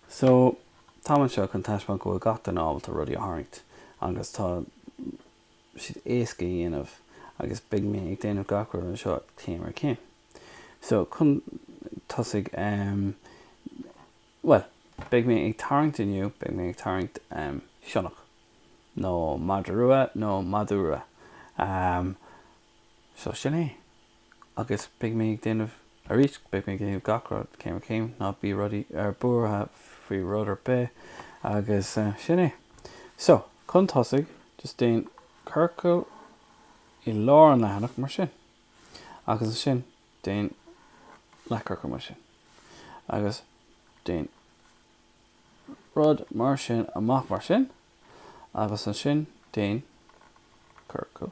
So, táim anseo chun taispeáint go bhfuil gach duine ábalta rudaí a tharraingt agus tá siad éasca a dhéanamh agus beidh mé ag déanamh gach rud anseo céim ar chéim. So, chun tosaigh ehm, bhuel, beidh mé ag tarraingt inniu, beidh mé ag tarraingt sionnach, nó madra rua nó madadh rua, ehm, Seo sin é. Agus beidh mé ag déanamh arís, beidh mé ag déanamh gach rud céim ar chéim, ná bí rudaí ar buartha faoi rud ar bith, agus sin é. So, chun tosaigh, just déan ciorcal i lár an leathanach mar sin, agus ansin déan leathchiorcal mar sin, agus déan rud mar sin amach mar sin, agus ansin déan ciorcal.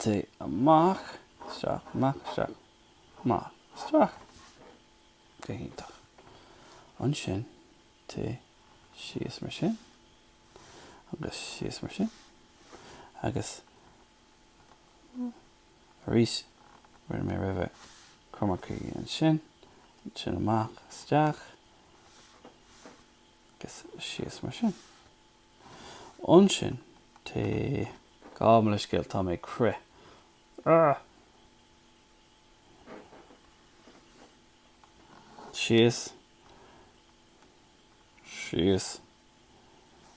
Téigh amach isteach, amach isteach, amach isteach. Go hiontach. Ansin téigh síos mar sin agus síos mar sin agus arís, rinne mé roimhe, cruth mar C ansin, ansin amach isteach agus síos mar sin. Ansin, téigh. Gabh mo leithscéal, tá mé ag crith. Argh! Síos. Síos.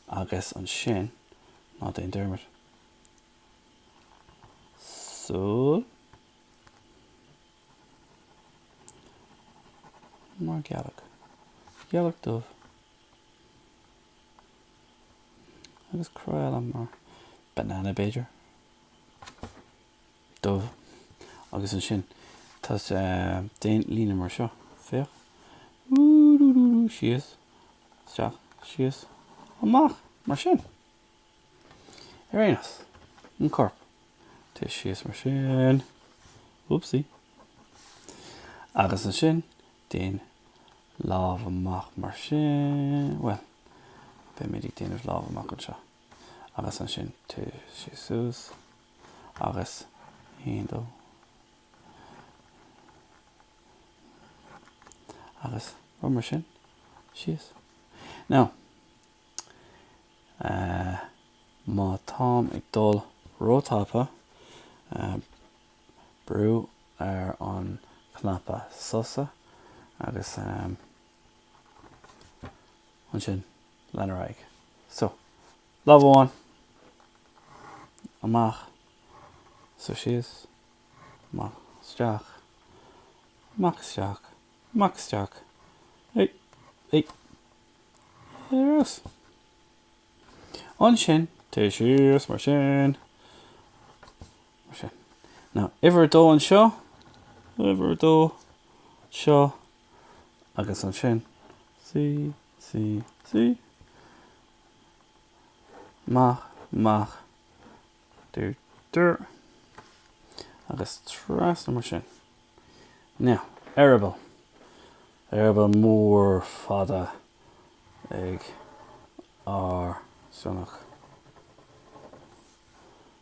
Agus ansin, ná déan dearmad. Súil. Mar gealach. Gealach dubh. Agus cruth eile mar banana b'fhéidir? Dubh. Agus ansin téigh déan líne mar seo. Féach. Síos. Isteach. Síos. Amach. Mar sin. Ar aon nós. An corp. Téigh síos mar sin. Oopsie. Agus ansin Déan lámh amach mar sin. Bhuel, beimid ag déanamh lámh amach anseo. Agus ansin téigh suas agus aon, dó, trí. Agus rud mar sin, síos. Now, eh, má táim ag dul ró-tapa, eh, brú ar an chnaipe sosa agus ansin lean ar aghaidh. So, lámh amháin amach, so síos, amach, isteach, amach, isteach, amach, isteach, hey, hey, yes. Ansin, téigh síos mar sin, Mar sin. Now, uimhir a dó anseo, uimhir a dó seo, agus ansin C, C, C, mach, mach, dir, dir, agus trasna mar sin. Now, eireaball, eireaball mór fada ag ár sionnach.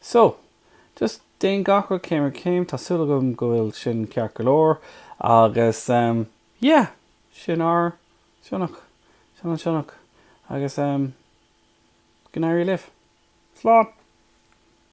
So, just déan gach rud céim ar chéim, tá súil agam go bhfuil sin ceart go leor, agus em, yeah, sin ár sionnach, sin an sionnach, agus em, go n-éirí libh. Slán!